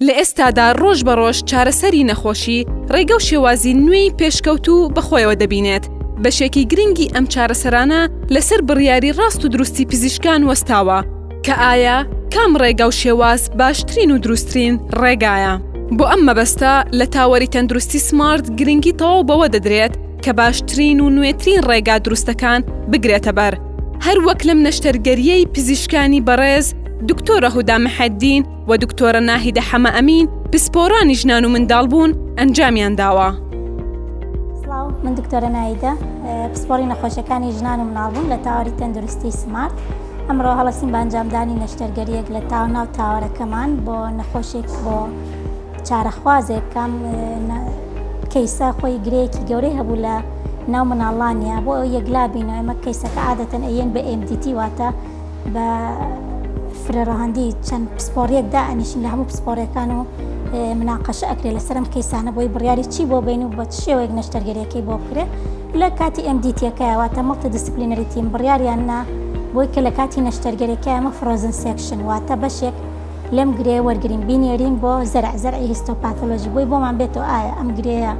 لە ئێستادا ڕۆژ بە ڕۆژ چارەسەری نەخۆشی ڕێگە و شێوازی نوێی پێشکەوتوو بە خۆیەوە دەبینێت، بەشێکی گرنگی ئەم چارەسەرانە لەسەر بڕیاری ڕاست و دروستی پزیشکان وەستاوە کە ئایا کام ڕێگا و شێواز باشترین و دروسترین ڕێگایە. بۆ ئەم مەبەستە لە تاوەری تەندروستی سمارت گرنگی تەواو بەوە دەدرێت کە باشترین و نوێترین ڕێگا دروستەکان بگرێتە بەر، هەروەک لەم نەشتەرگەرییەی پزیشکانی بەڕێز دکتۆرە هودا محێدین، و دکتۆرە ناهیدە حەمە ئەمین پسپۆڕانی ژنان و منداڵبوون ئەنجامیان داوە. من دکتۆرە نایدە پسپۆری نەخۆشەکانی ژنان و مناڵبوون لە تاواری تەندروستی سمارت ئەمڕۆ هەڵسین بانجامدانی نەشتەرگەریەک لە تاو ناو تاوارەکەمان بۆ نەخۆشێک بۆ چارەخوازێک کام کەیسە خۆی گرەیەکی گەورەی هەبوو لە ناو مناڵانە بۆ یەکلا بینەوە ئەمە کەیسەکە عادەتەن ئەیەن بە MDT واتە بە فرە ڕەهەندی چەند پسپۆڕیەک دائەنیشین لە هەموو پسپۆڕەکان و مناقەشە ئەکرێت لەسەرم کەیسانە بۆی بڕیاری چی بۆ بین و بە شێوەیەک نەشتەرگەریەکەی بۆ بکرێت لە کاتی ئەمدیتیەکەیواتە مڵتە دیسپلینەریتیم بڕیاریان نا بۆی کە لە کاتی نەشتەرگەرەکە ئەمە فرۆزن سێکشن واتە بەشێک لەم گرێ وەرگرین بینێرین بۆ زەرع زەرعی هیستۆپاتۆلۆژی بۆی بۆمان بێتەوە ئایا ئەم گرێیە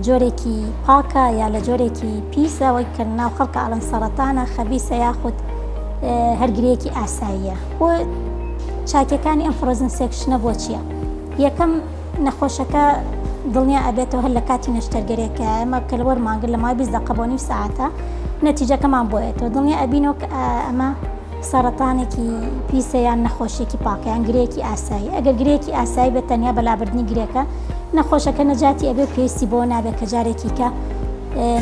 جۆرێکی پاکە یا لە جۆرێکی پیسە وەی کە ناو خەڵکە ئەڵەن سەرەتانە خەبیسە یاخود هەرگرێکی ئاساییە بۆ چاکەکانی ئەم فرۆزن سێکشنە بۆ چییە یەکەم نەخۆشەکە دڵنیا ئەبێتەوە هەر لە کاتی نەشتەرگەرێکە ئەمە کە لەوەر مانگر لە مای بیست دقە بۆ نیم ساعتە نەتیجەکەمان بۆیێتەوە دڵنیا ئەبینەوە ئەمە سەڕەتانێکی پیسە یان نەخۆشیەکی پاکە یان گرێکی ئاسایی ئەگەر گرێکی ئاسایی بە تەنیا بەلابردنی گرێکە نەخۆشەکە نەجاتی ئەبێ پێویستی بۆ نابێت کە جارێکیکە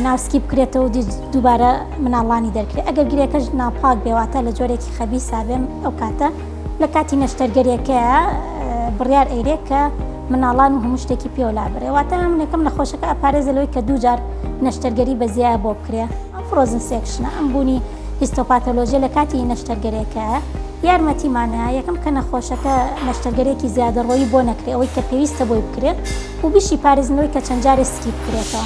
ناوسکی بکرێتەوە دووبارە مناڵانی دەرکرێت ئەگەر گرێکەش ناپاک بێواتە لە جۆرێکی خەبی سابێن ئەو کاتە لە کاتی نەشتەرگەرێکە بڕیار ئەیرێک کە مناڵان و هەموو شتێکی پێولا برێواتە منەکەم نەخۆشەکە ئەپارێزە لەوەی کە دووجار نەشتەرگەری بەزیایە بۆ بکرێ ئەم فرۆزن سێکشنە ئەم بوونی هیستۆپاتۆلۆژیە لەکاتی نەشتەرگەرێکە یارمەتیمانە یەکەم کە نەخۆشەکە نەشتەرگەرێکی زیادەڕۆیی بۆ نەکرێ ئەوەی کە پێویستە بۆی بکرێت و بیشی پارێزنەوەی کە چەند جارێ سکی بکرێتەوە.